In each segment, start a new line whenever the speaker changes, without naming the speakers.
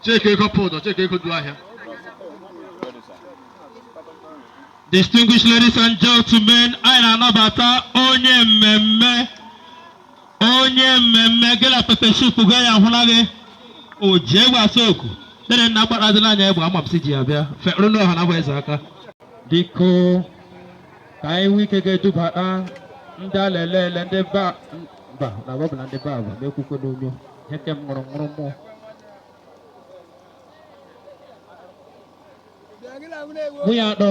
Chike ego pụdụ, chike ego du ahịa. Distinguished ladies and gentlemen, anyị na-anabata onye mmemme onye mmemme gị na pepe soup gị ya ahụla gị o ji egbe asa oku dere nna gbara dị n'anya egbe ama m si ji ya bịa fekpụrụ na ọha na-agba eze aka biko ka anyị nwee ike ga-edubata ndị a na-ele ele ndị ba mba na ọ bụ na ndị be a bụ na-ekwukwe n'onyo ihe ke m ṅụrụ ṅụrụ mmụọ nwunye atọ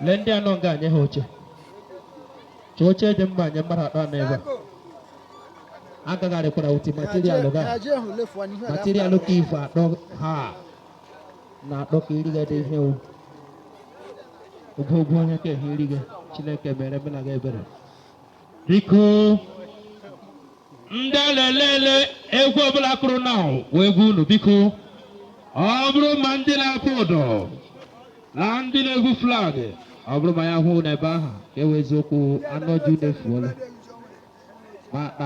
lee ndị a nọ nga nye ha oche chọọ oche dị mma nye mmadụ atọ a nọ ebe a agagharịkwara uti materialụ ga materialụ ka ife atọ ha na atọ ka irigade ihe o ogwogwo onye ka ehe irige Chineke mere mena ga ebere Biko ndị a na-ele ele egwu ọbụla kụrụ na wụ egwu unu biko ọ bụrụ ma ndị na-akpụ ụdọ na ndị na-ebu flag ọ bụrụ ma ya hụ n'ebe ahụ ka e wee eziokwu anọ ji unu efuola ma akpa